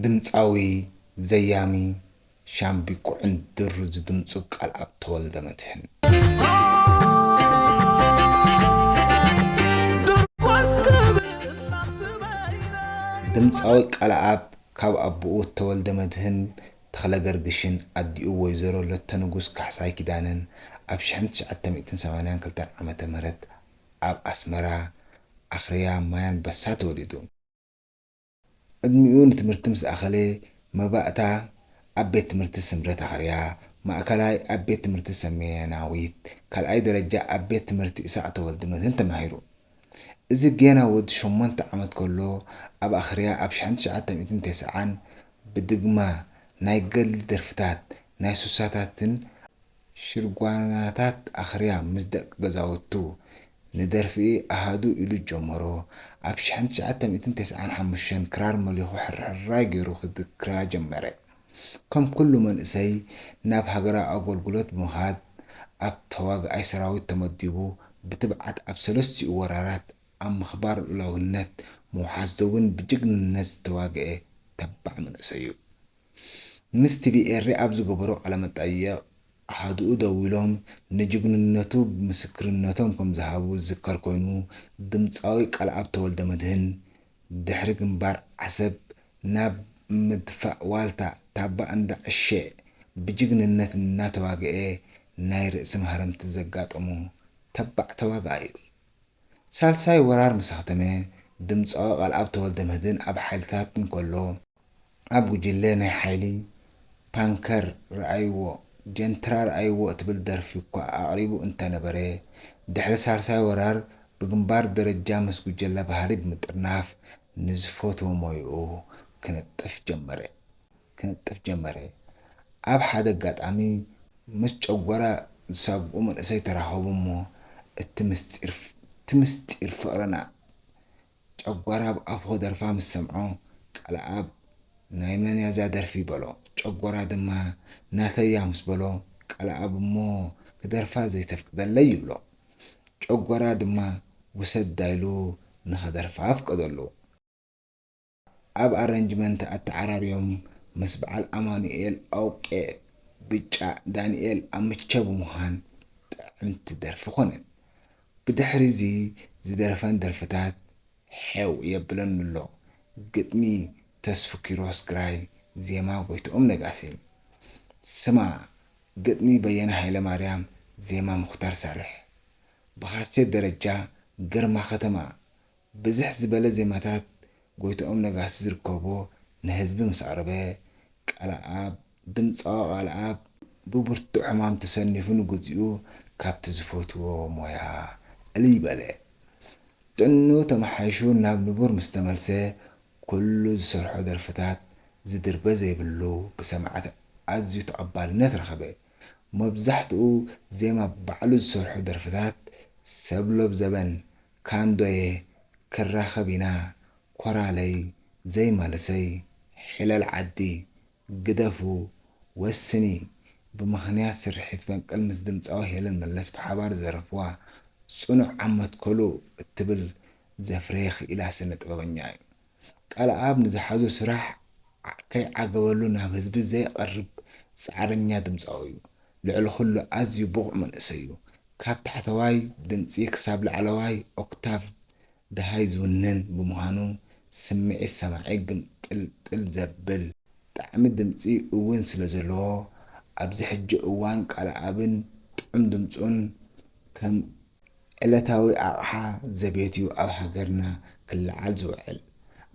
ድምጻዊ ዘያሚ ሻምብቆ ዕንድር ዝድምጹ ቃልኣብ ተወልደመድህን። ድምጻዊ ቃልኣብ ካብ ኣቡኡ ተወልደመድህን ተኽለገርግሽን ኣዲኡ ወይዘሮ ለተንጉስ ካሕሳይ ኪዳነን ኣብ ሽሕን ትሽዓተ ሚእትን ሰማንያን ክልተን ዓመተ ምህረት ኣብ ኣስመራ ኣኽርያ ማይ ኣንበሳ ተወሊዱ። ዕድሚኡ ንትምህርቲ ምስ ኣኸለ መባእታ ኣብ ቤት ትምህርቲ ስምረት ኣኸርያ፣ ማእከላይ ኣብ ቤት ትምህርቲ ሰሜናዊት፣ ካልኣይ ደረጃ ኣብ ቤት ትምህርቲ ኢሳቕ ተወልደ መድህን ተማሂሩ። እዚ ጌና ወዲ ሸሞንተ ዓመት ከሎ ኣብ ኣኸርያ ኣብ ሽሕን ትሽዓተ ሚእትን ተስዓን ብድግማ ናይ ገድሊ ደርፍታት ናይ ሱሳታትን ሽርጓናታት ኣኽርያ ምስ ደቂ ገዛውቱ ንደርፊ ኣሃዱ ኢሉ ጀመሮ። ኣብ ሽሕን ትሽዓተ ሚእትን ተስዓን ሓሙሽተን ክራር መሊኹ ሕርሕራይ ገይሩ ክድክራ ጀመረ። ከም ኩሉ መንእሰይ ናብ ሃገራዊ ኣገልግሎት ብምኻድ ኣብ ተዋጋኣይ ሰራዊት ተመዲቡ ብትብዓት ኣብ ሰለስቲኡ ወራራት ኣብ ምኽባር ልኡላውነት ምውሓስ ደቡብን ብጅግንነት ዝተዋገኤ ተባዕ መንእሰይ'ዩ። ምስ ቲቪ ኤሪ ኣብ ዝገበሮ ቃለመጠይቕ፣ ኣሃዱኡ ደዊሎም ንጅግንነቱ ምስክርነቶም ከምዝሃቡ ዝዝከር ኮይኑ፣ ድምጻዊ ቃልኣብ ተወልደመድህን ድሕሪ ግንባር ዓሰብ ናብ ምድፋእ ዋልታ ታባ እንዳ ዕሸ ብጅግንነት እናተዋግኤ ናይ ርእሲ ማህረምቲ ዘጋጠሞ ተባዕ ተዋጋኣይ'ዩ። ሳልሳይ ወራር ምስኣኽተመ፣ ድምጻዊ ቃልኣብ ተወልደመድህን ኣብ ሓይልታት እንከሎ፣ ኣብ ጉጅለ ናይ ሓይሊ ፓንከር ርኣይዎ ጀንትራ ርኣይዎ እትብል ደርፊ'ኳ ኣቕሪቡ እንተነበረ፣ ድሕሪ ሳልሳይ ወራር ብግንባር ደረጃ ምስ ጉጀለ ባህሊ ብምጥርናፍ ንዝፈትዎ ሞያኡ ክንጥፍ ጀመረ። ክንጥፍ ጀመረ። ኣብ ሓደ ኣጋጣሚ ምስ ጨጎራ ዝሳግኡ መንእሰይ ተራኸቡ'ሞ እቲ ምስጢር እቲ ምስጢር ፍቕርና ጨጓር ኣብ ኣፉ ክደርፋ ምስ ሰምዖ ቃልኣብ ናይ መን እያ እዛ ደርፊ በሎ። ጨጎራ ድማ ናተይ እያ ምስ በሎ ቃልኣብ እሞ ክደርፋ ዘይተፍቅደለይ ይብሎ። ጨጎራ ድማ ውሰዳ ኢሉ ንኸደርፋ ኣፍቀደሉ። ቃልኣብ ኣረንጅመንት ኣተዓራርዮም ምስ በዓል ኣማኑኤል ኣውቄ፣ ብጫ፣ ዳንኤል፣ ኣምቸ ብምዃን ጥዕምቲ ደርፊ ኮነት። ብድሕሪ'ዚ ዝደረፈን ደርፍታት ሐው የብለን'ሎ፣ ግጥሚ ተስፉ ኪሮስ ግራይ፣ ዜማ ጎይትኦም ነጋሲ። ስማ፣ ግጥሚ በየነ ሃይለማርያም፣ ዜማ ሙኽታር ሳልሕ። ብካሴት ደረጃ፣ ግርማ ከተማ። ብዝሕ ዝበለ ዜማታት ጎይትኦም ነጋሲ ዝርከቦ ንህዝቢ ምስ ኣቕረበ፣ ቃለኣብ ድምጻዊ ቃልኣብ ብብርቱዕ ሕማም ተሰኒፉ ንግዚኡ ካብቲ ዝፈትዎ ሞያ እልይ በለ። ጥዕንኡ ተመሓይሹ ናብ ንቡር ምስ ተመልሰ ኩሉ ዝሰርሖ ደርፍታት ዝድርበ ዘይብሉ ብሰማዕቲ ኣዝዩ ተቐባልነት ረኸበ። መብዛሕትኡ ዜማ ባዕሉ ዝሰርሖ ደርፍታት ሰብሎብ ዘበን፣ ካንዶየ፣ ክራኸብ ኢና፣ ኮራለይ፣ ዘይመልሰይ፣ ሒለል ዓዲ፣ ግደፉ ወስኒ ብምኽንያት ስርሒት ፈንቅል ምስ ድምጻዊ ሄለን መለስ ብሓባር ዝደረፍዋ ጽኑዕ ኣብ መትከሉ እትብል ዘፍረየ ክኢላ ስነ ጥበበኛ እዩ። ቃልኣብ ንዝሓዞ ስራሕ ከይዓገበሉ ናብ ህዝቢ ዘይቐርብ ጻዕረኛ ድምጻዊ እዩ። ልዕሊ ኩሉ ኣዝዩ ብቑዕ መንእሰይ እዩ። ካብ ታሕተዋይ ድምጺ ክሳብ ላዕለዋይ ኦክታቭ ደሃይ ዝውንን ብምዃኑ ስምዒት ሰማዒ ግምጥልጥል ዘብል ጣዕሚ ድምጺ እውን ስለዘለዎ ኣብዚ ሕጂ እዋን ቃለኣብን ጥዑም ድምጹን ከም ዕለታዊ ኣቕሓ ዘቤት'ዩ ኣብ ሃገርና ክለዓል ዝውዕል።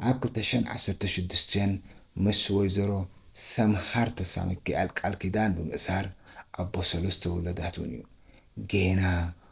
ኣብ ክልተ ሽሕን ዓሰርተ ሽዱሽተን ምስ ወይዘሮ ሰምሃር ተስፋሚካኤል ቃል ኪዳን ብምእሳር ኣቦ ሰለስተ ውላዳት'ውን'ዩ። ጌና